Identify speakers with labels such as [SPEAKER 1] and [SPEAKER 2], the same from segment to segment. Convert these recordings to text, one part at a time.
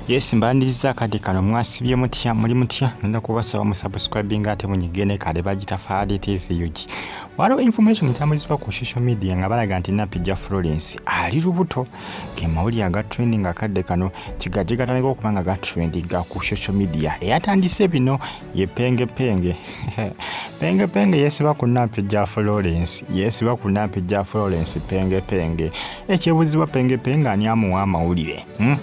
[SPEAKER 1] yes mbandiza akade kano mwasibye mutya muli mutya nenda kubasaba musubscribing ate munyigene kale bagitafaali tv ug waliwo information etambuzibwa ku social media nga balaga nti napija florence ali lubuto ge mawulire aga trending akadde kano kigaje gatandika okuba nga gatrendinga ku social media eyatandise bino ye pengepenge pengepenge yesiba ku napija florence yesiba ku napija florence pengepenge ekyebuzibwa pengepe nga ani amuwa amawulire hmm?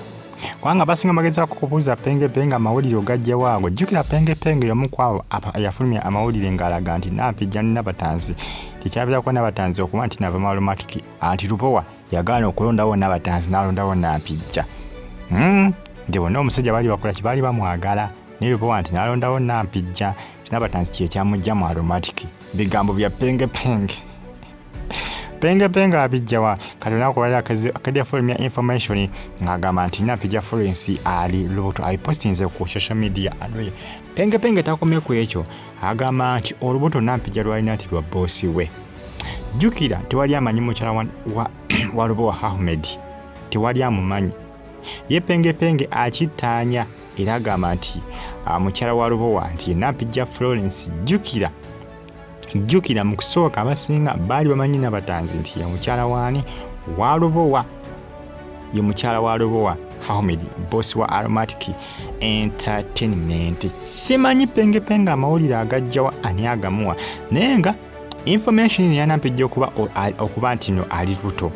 [SPEAKER 1] kubanga basinga magezako kubuuza pengepe nga amawulire ogajja waago jjukira pengepe nga yomu kwabo yafulumya amawulire ng'alaga nti nampijja ni nabatanzi tekyabeerako nabatanzi okuba nti nava malumatiki anti lubowa yagaana okulondawo nabatanzi n'alondawo nampijja hmm? nti bonna omusajja baali bakola kye baali bamwagala naye lubowa nti n'alondawo nampijja nabatanzi kyekyamujja mu aromatiki bigambo bya pengepenge penge penge abijjawa kati olunaku lwali akedya fulm ya information ng'agamba nti napija furensi ali lubuto abipostinze ku social media alwe penge penge takomye ku ekyo agamba nti olubuto nampija lwalina nti lwa boosi we jjukira tewali amanyi mukyala wa, wa, wa lubowa ahmed tewali amumanyi ye penge penge akittaanya era agamba nti ah, mukyala wa lubowa nti nampija florence jjukira jjukira mu kusooka abasinga baali bamanyi nabatanzi nti ye mukyala waani wa lubowa ye mukyala wa lubowa hamed bosi wa aromatic entertainment simanyi pengepenge amawulire agajjawa ani agamuwa naye nga information yanampejja okuba okuba nti no ali luto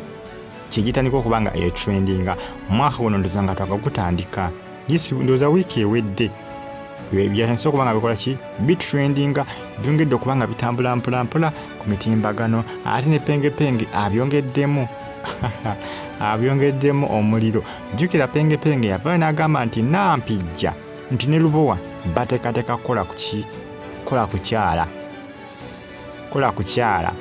[SPEAKER 1] kyegitandika okuba nga etrendinga mwaka guno ndoza nga twakakutandika Yes, ndowooza wiiki ewedde byansi okuba nga bikola ki bitrendinga byongedde okuba nga bitambula mpolampola ku mitimbagano ate ne pengepenge abyongeddemu abyongeddemu omuliro jjukira pengepenge yavaayo n'agamba nti nampijja nti ne lubowa bateekateeka kukola kuki kukola kukyala kola kukyala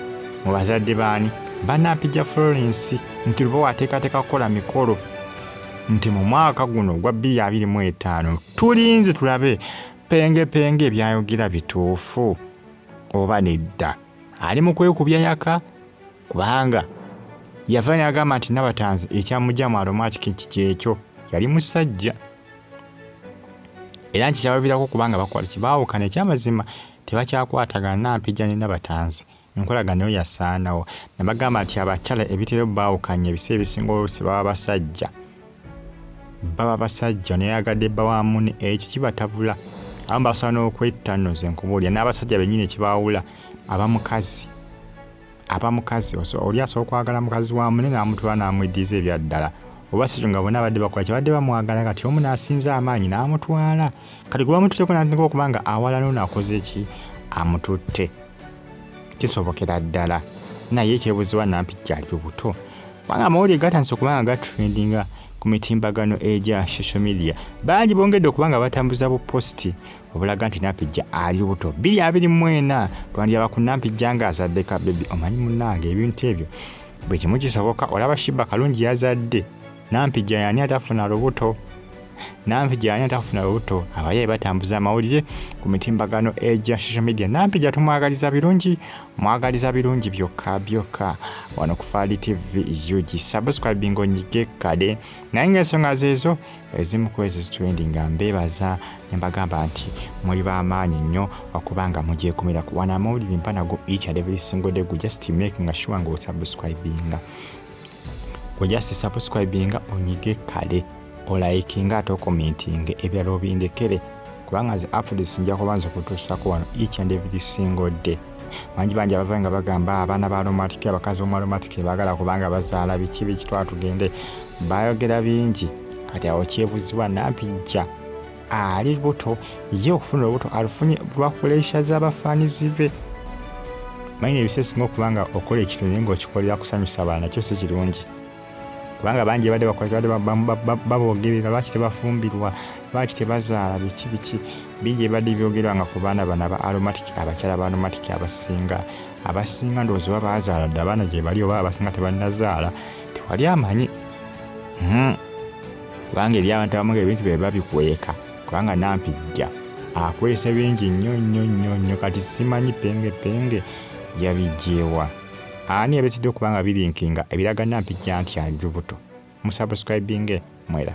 [SPEAKER 1] mu bazadde baani banampija florence nti luba wateekateeka kukola mikolo nti mu mwaka guno ogwa 225 tulinze tulabe pengepenge ebyayogera bituufu oba nedda ali mu kwekubya yaka kubanga yava nagamba nti nabatanzi ekyamugyamu aromatikiki kyekyo yali musajja era nti kyabavirako kubanga bakwaliki baawukana ekyamazima tebakyakwatagana Nampijja ne Nabatanzi enkolagana eyo yasaanawo ne bagamba nti abakyala ebitera baawukanya ebiseera ebisinga oluusi baba basajja baba basajja neyagadde bba wa mune ekyo kibatabula abamu basobola n'okwetta nno ze nkubuulira n'abasajja bennyini ekibaawula aba mukazi aba mukazi oli asobola okwagala mukazi wa mune n'amutwala n'amweddiza ebyaddala oba si nga bonna abadde bakola kyabadde bamwagala kati omu n'asinza amaanyi n'amutwala kati gwe bamututteko n'atandika okuba nga awalana ono akoze ki amututte kisobokera ddala naye ekyebuziwa nampi gyali lubuto kubanga amawulire gatandise okuba nga gatrendinga ku mitimbagano egya social media bangi bongedde okuba nga batambuza bupositi obulaga nti nampijja ali lubuto biri abiri mwena twandiyaba ku nampijja nga azadde ka bebi omanyi munange ebintu ebyo bwe kimu kisoboka olaba shiba kalungi yazadde nampijja yani atafuna lubuto nampijja yani atafuna lubuto abayaye batambuza amawulire ku mitimbagano egya social media nampijja tumwagaliza birungi mwagaliza birungi byokka byokka wano ku faali tv ug subscribing onyige kade naye nga ensonga zeezo ezimu ku ezo zituwendi nga mbeebaza ne mbagamba nti muli b'amaanyi nnyo okubanga mugyekumira ku wana amawulire mpa nago each and every single day gu just make nga sure nga osubscribinga gwe just subscribinga onyige kale olayikinga ate okomentinga ebirala obindekere kubanga nze afudesi nja kubanza okutuusako wano each and every single day bangi bangi abava nga bagamba abaana ba aromatic abakazi bomu aromatic bagala kubanga bazaala biki biki twatugende bayogera bingi kati awo kyebuzibwa nampijja ali buto ye okufuna olubuto alufunye lwakulesha z'abafaanizi be manyi nebisesinga okuba nga okola ekintu naye ngaokikolera kusanyusa baana kyo si kirungi kubanga bangi badde bakolebadde baboogerera lwaki tebafumbirwa lwaki tebazaala biki biki bingi ebibadde byogerwa nga ku baana bano aba aromatic abakyala ba aromatic abasinga abasinga ndowooza oba baazaala dde abaana gye bali oba abasinga tebanazaala tewali amanyi hmm. kubanga eri abantu abamu ngaebintu bye babikweka kubanga nampijja akwese bingi nnyo nnyo nnyo nnyo kati simanyi penge penge yabigyewa Ani yabetidde okuba nga bilinkinga ebiraga Nampijja nti ali lubuto? Musubscribinge mwera.